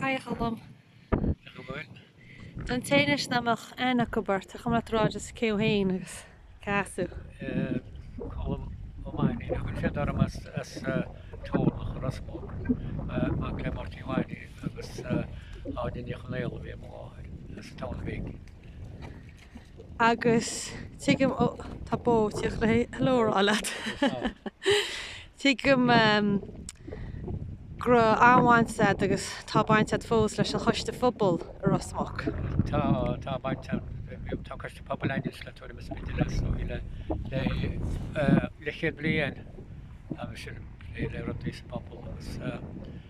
Haigh a Cholm. Cén chaoi a bhfuil? Don té anois nach mbeadh aithne acu ort, an cuma leat a rá just cé thú féin agus cá as tú? Colm Ó Mainnín a thugann siad orm as Turlach Ros Muc, mac le Máirtín Mhainín agus Áine Ní Chonaola ab í mo mháthair, as an Tamhnaigh Bhig. agus tuigim ó tá bó tí ag iarraidh hello a rá leat tuigim go raibh an-bhaint a'd agus tá baint a'd fós leis an choiste phobail i Ros Muc. Tá, tá baint a'm, bhuel, tá coiste pobail againne le tuairim is b'fhéidir le os cionn le leathchéad bliain agus sinn ag plé le rudaí sa bpobal agus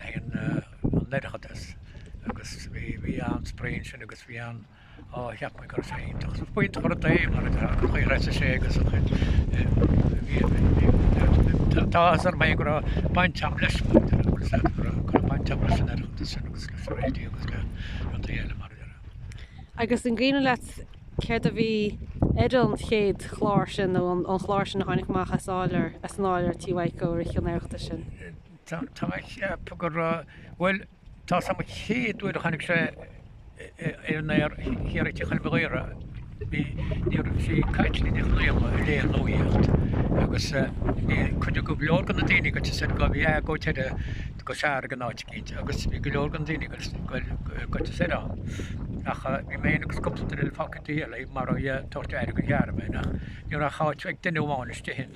Leis an oireachtas agus bhí an-spraoi ansin agus bhí ann á cheap mé go raibh sé iontach. Á b'iontach an rud é mar a déarfá chuir threise sé agus an chuid tá áthas orm go raibh baint a'm leis mar go raibh baint a'm leis an oireachtas sin agus leis an raidió agus le an tae eile mar a déarfá. Agus an cuimhneach leat céard a bhí ar an chéad chlár sin nó an chlár sin a tháinig amach as an áiléar tigh Mhaidhcó ar an oireachtas sin? Tá mé ag ceapadh gur, bhuel, tá a fhios a'm an chéad uair a tháinig sé ar an aer thiar tigh Mhichíl Bairéad, bhí, ní raibh sí caite ag Nic Ghrianna a léigh an nuaíocht agus bhí cuid, go leor go na daoine ag goil siar go bhí a' go teire go fear ag an áit eicínt agus bhí go leor go na daoine ag goil siar ann ach bhí mé fhéin agus cúpla duine eile fágtha ag Dia eile mar a bhí a' tabhairt aire go ghearr mé nach, ní raibh ach áit ag duine amháin istigh in.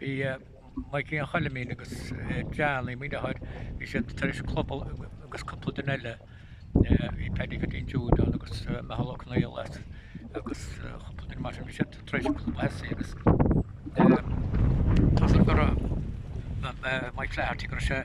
Bhí Maidhcí an Choilmín agus Johnny mo dheartháir, bhí siad tar éis club agus cúpla duine eile, bhí Paddy Pheaitín Jude ann agus Micheál Ó Conaola agus cúpla duine mar sin, bhí siad tar éis club a thosú agus tá a fhios a'm go raibh Mike Flaherty go raibh sé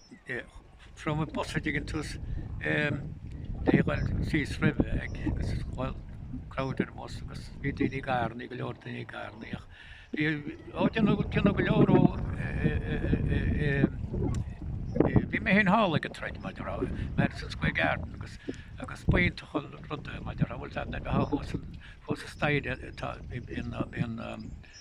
Phrofaigh Bosaigh ag an tús le dhul síos roimhe ag Scoil Clóidéar Amos agus bhí daoine ag airní, go leor daoine ag airní ach bhí á déanamh déanamh go leor ó bhí mé féin thall ag an troid mar a déarfá Madison Square Garden agus agus b'iontach an rud é mar a déarfá bhfuil ar bith thall fós fós an staighre atá in in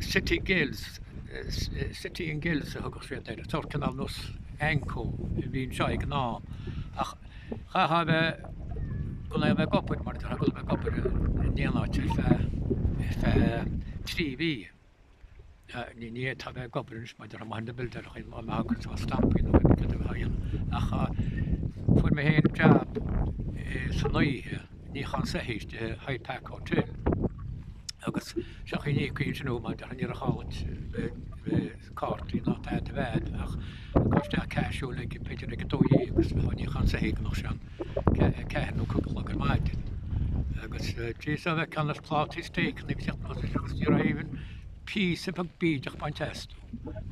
City Guilds, City and Guilds a thugadh siad air, sórt cineál nós AnCo a bhí anseo ag an am ach chaithfeá a bheith, gan a bheith ag obair mar a déarfá, gan a bheith ag obair in aon áit ar feadh trí mhí. Níl, tá mé ag obair anois maidir le maithe na bpildeartha, má mbeadh acu seo stampaí nó rud ar bith a dhéanamh. Ach fuair mé féin jab san oíche, ag níochán soithí sa Hyde Park Hotel, agus seach an íoc aoinse nó mar a déarfá ní raibh aon chaint ar chártaí ná tada de bhead ach dul isteach tosú b'fhéidir ag a dó dhéag agus bheith ag níochán soithí go mbeadh sé ann. 4 nó 5 a chlog ar maidin. Agus tríd a bheith ceann as plátaí steak nó isteach nó sa siúl siar aoibhinn, píosa beag bídeach bainte astu.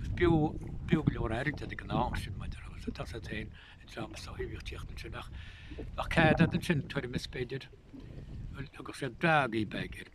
Is bhíodh bhíodh go leor airde agam an t-am sin mar a déarfá agus an t-asal féin i dtreo na soithí ag tíocht ansin ach ach cead fhad ansin, tuairim is b'fhéidir, agus iad breágh í b'fhéidir.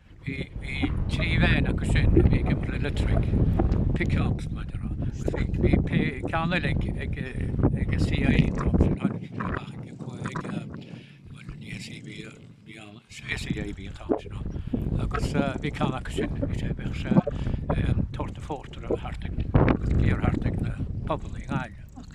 Bhí trí veain acu sin a bhí ag imeacht le electric, pickups mar a déarfá, agus bhí ceann eile ag ag ag an CIE an t-am sin, tháinig siad amach ag ag ag bhuel ní CIE bhí ann, CIE a bhí an t-am sin ann agus bhí ceann acu sin bhí sé bhíodh sé ag tabhairt an phórtair thart ag ag iarr thart ag na pubannaí i nGaillimh.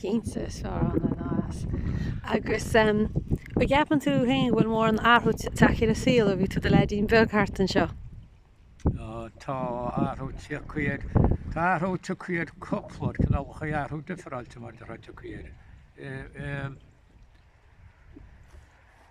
cinnte is fearr ann ná as. Agus an gceapann tú féin go bhfuil mórán athrú tagtha ar an saol ó bhí tú i do leaidín beag thart anseo? Tá athrú tagtha air tá athrú tagtha air cúpla cineálacha athrú difreáilte mar a déarfá tagtha air.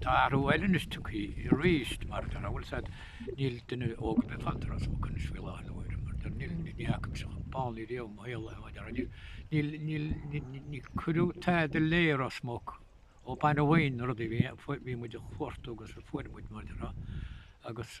Tá athrú eile anois tagtha arís mar a déarfá, bhfuil a fhios agat, níl duine óg ar bith fanta i Ros Muc faoi láthair nuair mar a déarfá níl ní fhaca mise chomh bánaithe riamh i mo shaol é déarfainn níl níl níl níor cuireadh tada eile i Ros Muc ó bain a bhain na rudaí bhí bhí muid a chuartú agus a fuair muid mar a déarfá agus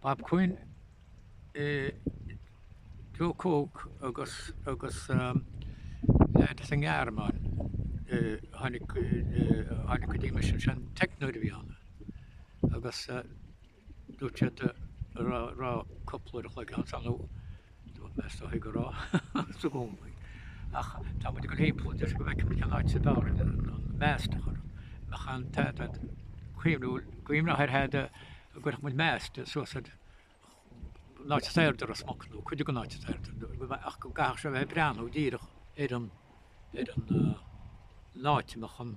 Bob Quinn is Joe Cooke agus agus leaid as an nGearmáin a tháinig tháinig go dtí mise sin teicneoir a bhí ann agus dúirt siad an raibh raibh cúpla uair an chloig agamsa inniu Dúirt mé is dóigh go raibh, agus i gcónaí. Ach tá muid ag dul thimpeall anois go bhfeicfimid cén áit is fearr an mast a chur ann, ina mbeadh an t-aird ag cuimhniú, cuimhneamh ar dtús go gcuirfeadh muid mast suas ag an áit is airde i Ros Muc, nó cuid den áit is airde, ach go gcaithfeadh sé a bheith ag breathnú díreach ar an áit ina mbeadh an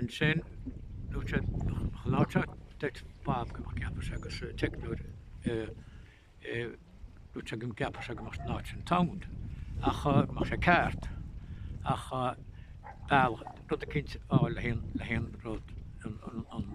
Ansin, luaigh sé sholáthraíocht dúirt Bob go gceapfadh sé agus an teicneoir, luaigh sé go gceapfadh sé go mbeadh an áit sin sound ach nach mbeadh sé ceart ach bealach, rud eicínt a fháil le haon rud an.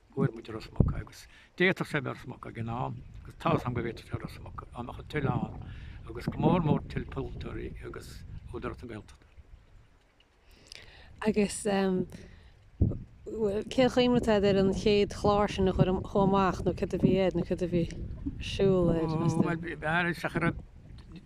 Fuair muid Ros Muc agus d'fhéadfadh sé a bheith i Ros Muc ag an am agus tá's agam go bhféadfadh sé a bheith i Ros Muc dá mbeadh an toil ann agus go mór mór toil polaiteoirí agus Údarás na Gaeltachta. Agus, bhuel, cén chuimhne atá agat ar an chéad chlár sin a chuaigh amach nó céard a bhí air nó céard a bhí ar siúl air, meas tú? Bhuel, b'fhearr isteach a raibh,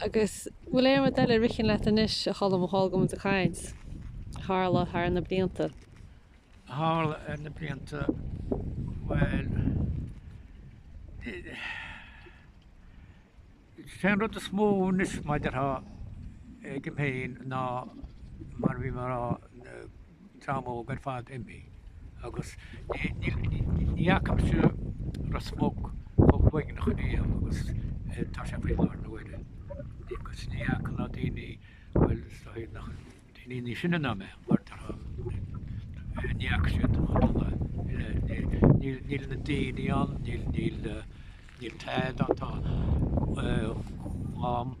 Agus bhfuil aon rud eile a ritheann leat anois, a Cholm, a thógaim do chaint? Tharla thar na blianta. Tharla thar na blianta, bhuel, is é an rud is mó anois maidir agam fhéin ná mar a bhí mé a rá, dream óg ar fad imithe agus ní fhaca mise Ros Muc chomh uaigneach riamh agus tá sé faoi láthair na huaire agus ní fhaca ná daoine, bhuel is dóigh nach daoine níos sine ná mé mar tá, ní fhaca siad chomh dona le, níl na daoine ann, níl tada ann, tá dhá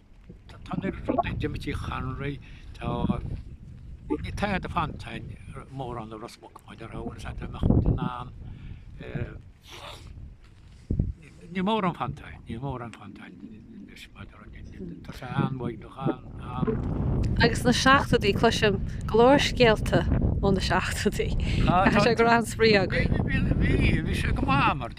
Tá na dúnta d'imigh Tigh Chonroy, tá níl tada fanta ann, mórán i Ros Muc maidir le háit a mbeadh muid in ann Níl mórán fanta ann, níl mórán fanta ann leis maidir tá sé an-uaigneach ann. Agus na seachtóidí cloisim go leor scéalta ó na seachtóidí. Tá sé go raibh an-spraoi againn. Bhí sé go maith mar